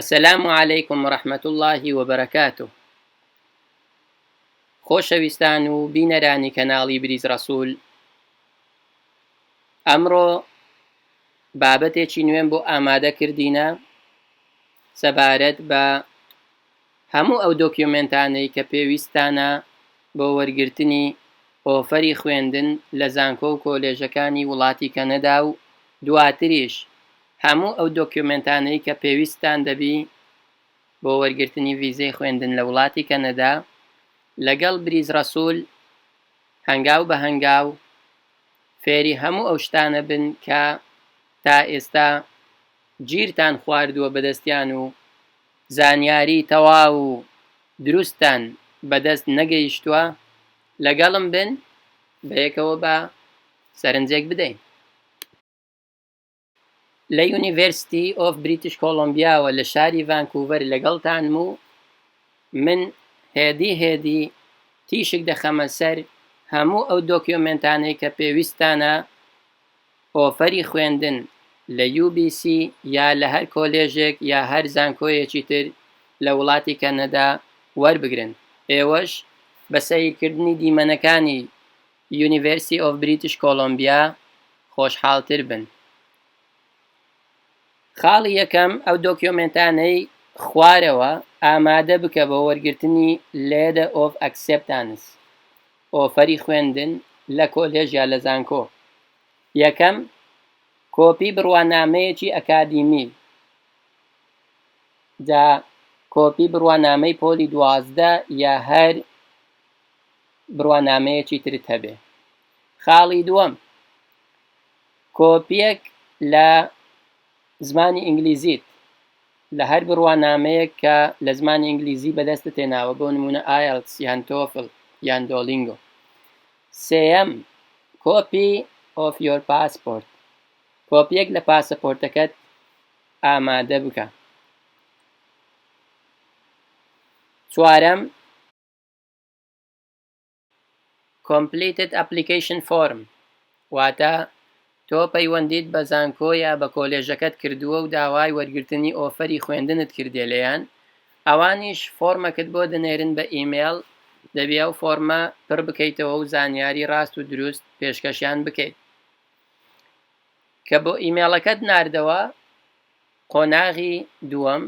السلام علیکم ورحمة اللە وبرکاته خۆشەویستان و بینەرانی کەناڵی بریز ڕەسول ئەمڕۆ بابەتێکی نوێم بۆ ئامادە کردینە سەبارەت بە هەموو ئەو دۆکیۆمێنتانەی کە پێویستتانە بۆ وەرگرتنی ئۆفەری خوێندن لە زانکۆ و کۆلێژەکانی وڵاتی کەنەدا و دواتریش هەموو ئەو دۆکیۆمێنتانەی کە پێویستتان دەبی بۆ وەرگرتنی ڤیزەی خوێندن لە وڵاتی کەنەدا لەگەڵ بریز ڕەسول هەنگاو بە هەنگاو فێری هەموو ئەو شتانە بن کە تا ئێستا گیرتان خواردووە بەدەستیان و زانیاری تەواو و دروستتان بەدەست نەگەیشتووە، لەگەڵم بن بەیەکەوە با سەرنجێک بدەین. لە University of British Columbia وە لە شاری ڤانکوڤەر لەگەڵتانم و من هێدی هێدی تیشک دەخەمە سەر هەموو ئەو دۆکیۆمێنتانەی کە پێویستتانە ئۆفەری خوێندن لە یو بی سی یا لە هەر کۆلێژێک یا هەر زانکۆیەکی تر لە وڵاتی کەنەدا وەربگرن، ئێوەش بە سەیرکردنی دیمەنەکانی University of British Columbia خۆشحاڵتر بن. خاڵی یەکەم، ئەو دۆکیۆمێنتانەی خوارەوە ئامادە بکە بۆ وەرگرتنی Letter of Acceptance. ئۆفەری خوێندن لە کۆلێژ یا لە زانکۆ یەکەم کۆپی بڕوانامەیەکی ئەکادیمی جا کۆپی بڕوانامەی پۆلی دوازدە یا هەر بڕوانامەیەکی ترت هەبێ خاڵی دووەم کۆپیەک لە زمانی ئینگلیزیت لە هەر بڕوانامەیەک کە لە زمانی ئینگلیزی بەدەستت هێناوە بۆ نموونە ئایەڵتس یان تۆفل یان دۆلینگۆ سێیەم کۆپی ئۆف یۆر پاسپۆرت کۆپیەک لە پاسەپۆرتەکەت ئامادە بکە چوارەم Completed Application Form واتە تۆ پەیوەندیت بە زانکۆ یا بە کۆلێژەکەت کردووە و داوای وەرگرتنی ئۆفەری خوێندنت کردیە لێیان، ئەوانیش فۆرمەکت بۆ دەنێرن بە ئیمێڵ، دەبی ئەو فۆرمە پڕ بکەیتەوە و زانیاری ڕاست و دروست پێشکەشیان بکەیت. کە بۆ ئیمێڵەکەت ناردەوە، قۆناغی دووەم،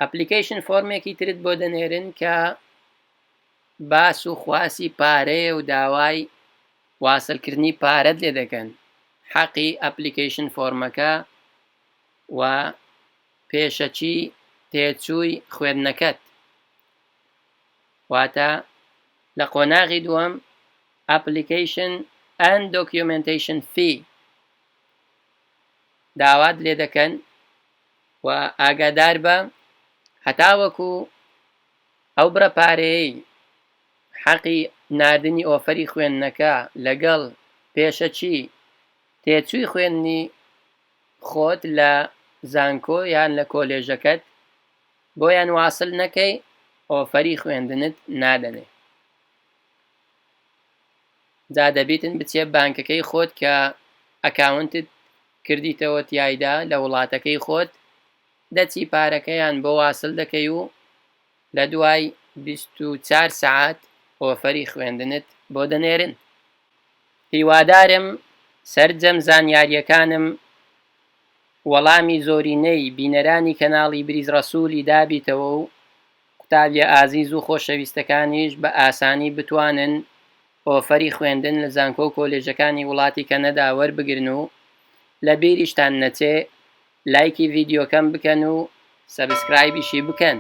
ئەپلیکەیشن فۆرمێکی ترت بۆ دەنێرن کە باس و خواسی پارەیە و داوای واسل کردنی پارەت لێ دەکەن حەقی ئەپلیکەیشن فۆرمەکە و پێشەکی تێچووی خوێندنەکەت واتە لە قۆناغی دووەم ئەپلیکەیشن ئەند دۆکیۆمێنتەیشن فی داوات لێ دەکەن و ئاگادار بە هەتاوەکو ئەو بڕە پارەیەی حەقی ناردنی ئۆفەری خوێندنەکە لەگەڵ پێشەکی تێچووی خوێندنی خۆت لە زانکۆ یان لە کۆلێژەکەت بۆیان واسل نەکەی ئۆفەری خوێندنت نادەنێ جا دەبیتن بچێ بانکەکەی خۆت کە ئەکاونتت کردیتەوە تیایدا لە وڵاتەکەی خۆت دەچی پارەکەیان بۆ واسل دەکەی و لە دوای بیست و چار سەعات ئۆفەری خوێندنت بۆ دەنێرن. هیوادارم سەرجەم زانیاریەکانم وەڵامی زۆرینەی بینەرانی کەناڵی بریز ڕەسولی دابیتەوە و قوتابیە ئازیز و خۆشەویستەکانیش بە ئاسانی بتوانن ئۆفەری خوێندن لە زانکۆ و کۆلێژەکانی وڵاتی کەنەدا وەربگرن و لە بیریشتان نەچێ لایکی ڤیدیۆکەم بکەن و سەبسکرایبیشی بکەن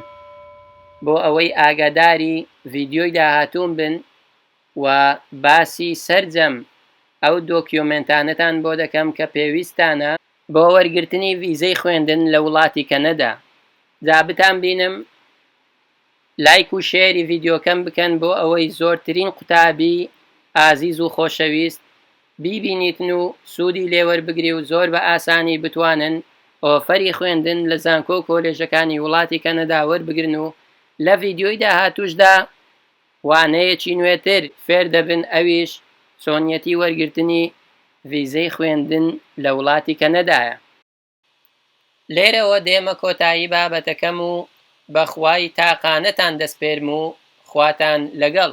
بۆ ئەوەی ئاگاداری ڤیدیۆی داهاتووم بن و باسی سەرجەم ئەو دۆکیۆمێنتانەتان بۆ دەکەم کە پێویستتانە بۆ وەرگرتنی ڤیزەی خوێندن لە وڵاتی کەنەدا جا بتانبینم. لایک و شێری ڤیدیۆکەم بکەن بۆ ئەوەی زۆرترین قوتابی ئازیز و خۆشەویست بیبینیتن و سودی لێوەربگری و زۆر بە ئاسانی بتوانن ئۆفەری خوێندن لە زانکۆ و کۆلێژەکانی وڵاتی کەنەدا وەربگرن و لە ڤیدیۆی داهاتوشدا وانەیەکی نوێتر فێر دەبن ئەویش چۆنیەتی وەرگرتنی ڤیزەی خوێندن لە وڵاتی کەنەدایە. لێرەوە دێمە کۆتایی بابەتەکەم و بەخوای تاقانەتان دەسپێرم و خواتان لەگەڵ.